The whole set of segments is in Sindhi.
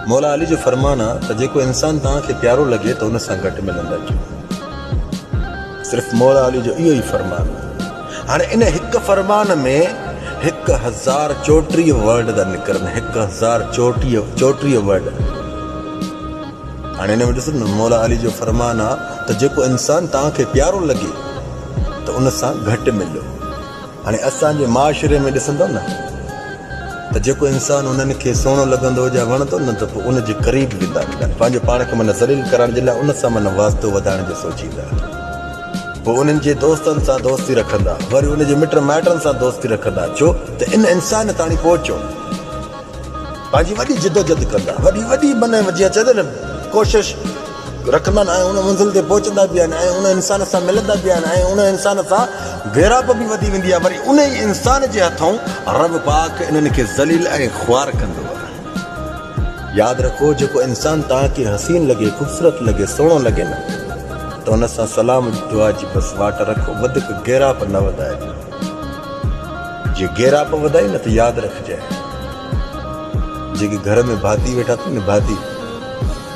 مولا علي جو فرمان آ ته جيڪو انسان توهان کي پيارو لڳي ته ان سان گڏ ملندا ڪيو. صرف مولا علي جو اهو ئي فرمان آ. هاڻي ان هڪ فرمان ۾ هڪ هزار چوٽيهه ورڊ ٿا نڪرن هڪ هزار چوٽيهه چوٽيهه ورڊ. هاڻي ان ۾ ڏسو نه مولا علي جو فرمان آ ته جيڪو انسان توهان کي پيارو لڳي ته ان سان گڏ ملو. هاڻي اسان جي معاشري ۾ ڏسندؤ نه ته جيڪو انسان انهن کي سهڻو لڳندو يا وڻندو نه ته پوء ان جي قريب ويندا ملن پنهنجو پاڻ کي من ذليل ڪرائڻ جي لاء ان سان من واسطو وڌائڻ جو سوچيندا پوء انهن جي دوستن سان دوستي رکندا وري ان جي مٽ مائٽن سان دوستي رکندا ڇو ته ان انسان تاڻي پهچو پنهنجي وڏي جدوجھد ڪندا وڏي وڏي من جيئن چئجي نه ڪوشش رکندا آهن ۽ ان منزل تي پهچندا به آهن ۽ ان انسان سان ملندا به آهن ۽ ان انسان سان ويراپ به وڌي ويندي آهي وري ان ئي انسان جي هٿئون رب پاڪ انهن کي ذليل ۽ خوار ڪندو آهي ياد رکو جيڪو انسان توهان کي حسين لڳي خوبصورت لڳي سهڻو لڳي نه ته ان سان سلام جي دعا جي بس واٽ رکو وڌيڪ گيراپ نه وڌائجو جي گيراپ وڌائي نه ته ياد رکجانء جيڪي گهر ۾ ڀاتي ويٺا اٿن نه ڀاتي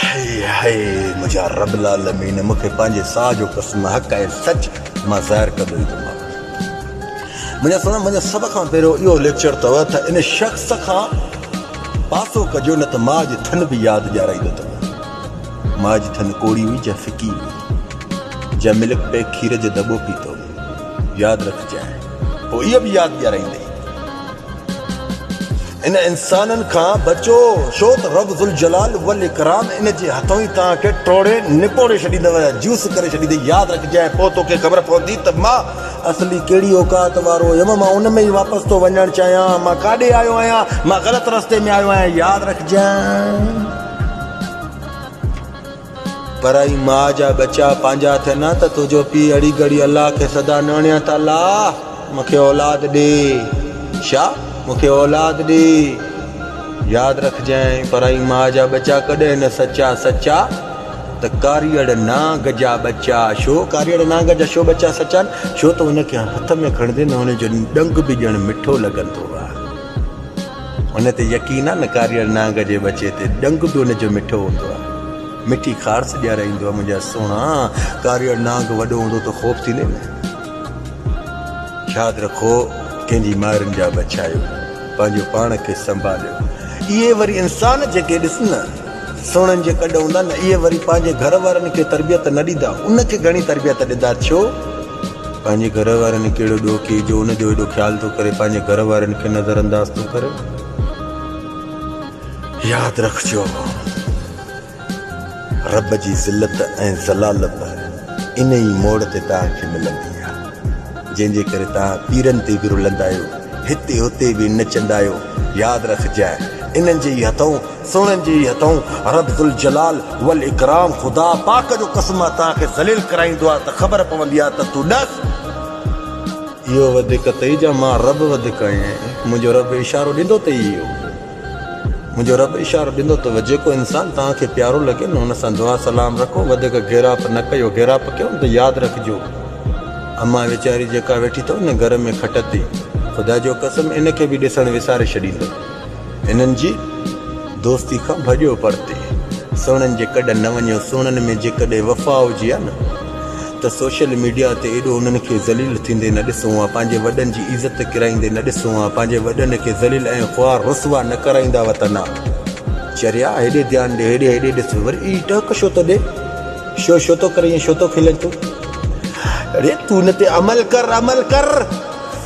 هي هي منهنجا رب العالمين مون کي پنهنجي ساهه جو قسم حق ۽ سچ مان ظاهر ڪندو ئي ڪم آهي منهنجا سونا منهنجا سڀ کان پهريون اهو ليڪچر اٿو ته ان شخص کان پاسو ڪجو نه ته مان جي ٿن به ياد ڏيارائيندو ته مان جي ٿن ڪوڙي هئي جا فڪي هئي جا ملڪ پيڪ کير جو دٻو پيتو ياد رکجانء پوء اها به ياد ڏيارائيندي. ان انسانن کان بچو، ڇو ته رب ذوالجلال والاڪرام ان جي هٿئون ئي توهان کي ٽوڙي نپوڙي ڇڏيندو، جيوس ڪري ڇڏيندي. ياد رکجانء پوء توکي خبر پوندي ته مان اصلي ڪهڙي اوقات وارو هيم. مان ان ۾ ئي واپس ٿو وڃڻ چاهيان. مان ڪاڏي آيو آهيان؟ مان غلط رستي ۾ آيو آهيان. ياد رکجانء. پرائي ماء جا ٻچا پنهنجا ٿين ها ته تنهنجو پيء اڙي گڙي الله کي سدا نوڻيان ته الله مون کي اولاد ڏي شا مون کي اولاد ڏي ياد رکجانء پرائي ماء جا ٻچا ڪڏهن نه سچا سچا ته ڪاريئڙ نانگ جا ٻچا شو ڪاريئڙ نانگ جا شو ٻچا سچا شو ته ان کي هٿ ۾ کڻندي نوڻي جو ڏنگ به ڄڻ مٺو لڳندو آ. هن تي يقين آ نه ڪاريئڙ نانگ جي ٻچي تي ڏنگ به ان جو مٺو هوندو آ مٺي خارس ڏيارائيندو آ منهنجا سهڻا ڪاريئڙ نانگ وڏو هوندو ته خوف ٿيندي نه ياد رکو ڪنهن جي مائرن جا بڇايو پنهنجو پاڻ کي سنڀاليو اهي وري انسان جيڪي ڏس نه سهڻن جي ڪڏ هوندا نه اهي وري پنهنجي گهر وارن کي تربيت نه ڏيندا ان کي گهڻي تربيت ڏيندا ڇو پنهنجي گهر وارن هڪ اهڙو ڏوکي جو ان جو ايڏو خيال ٿو ڪري پنهنجي گهر وارين کي نظر انداز ٿو ڪري ياد رکجو رب جي ذلت ۽ ذلالت انهي ئي موڙ تي توهان کي ملندي آ جنهن جي ڪري توهان پيرن تي به رلندا آهيو هتي هتي به نچندا آهيو ياد رکجانء انهن جي ئي هٿئون سونهن جي هٿئون رب ذوالجلال والاڪرام خدا پاڪ جو قسم آ توهان کي ذليل ڪرائيندو آ ته خبر پوندي آ ته تون ڏس. اهو وڌيڪ اٿئي جا مان رب وڌيڪ آهيان منهنجو رب اشارو ڏيندو ته اهو منهنجو رب اشارو ڏيندو ته جيڪو انسان توهان کي پيارو لڳي نه ان سان دعا سلام رکو وڌيڪ گيراپ نه ڪيو گيراپ ڪيو نه ته ياد رکجو امان ويچاري جيڪا ويٺي اٿئو نه گهر ۾ کٽ تي خدا جو قسم ان کي به ڏسڻ وساري ڇڏيندو. هنن جي دوستي کان ڀڄو پرتي سهڻن جي ڪڏ نه وڃو سهڻن ۾ جيڪڏهن وفا هجي ها نه ته سوشل ميڊيا تي ايڏو انهن کي ذليل ٿيندي نه ڏسون ها پنهنجي وڏن جي عزت ڪرائيندي نه ڏسون ها پنهنجي وڏن کي ذليل ۽ خوار رسوا نه ڪرائيندا ها ته نه چريا هيڏي ڌيان ڏي هيڏي هيڏي ڏس وري اي ٽهڪ شو ٿو ڏي شو شو ٿو ڪرين شو ٿو کلين تون اڙي تون ان تي عمل ڪر عمل ڪر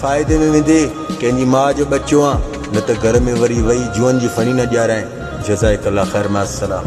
فائدي ۾ ويندي ڪنهن جي ماء جو ٻچو آن نه ته گهر ۾ وري وئي جوئن جي ڦڻي نه ڄارائين جزائڪ الله خير مع السلام.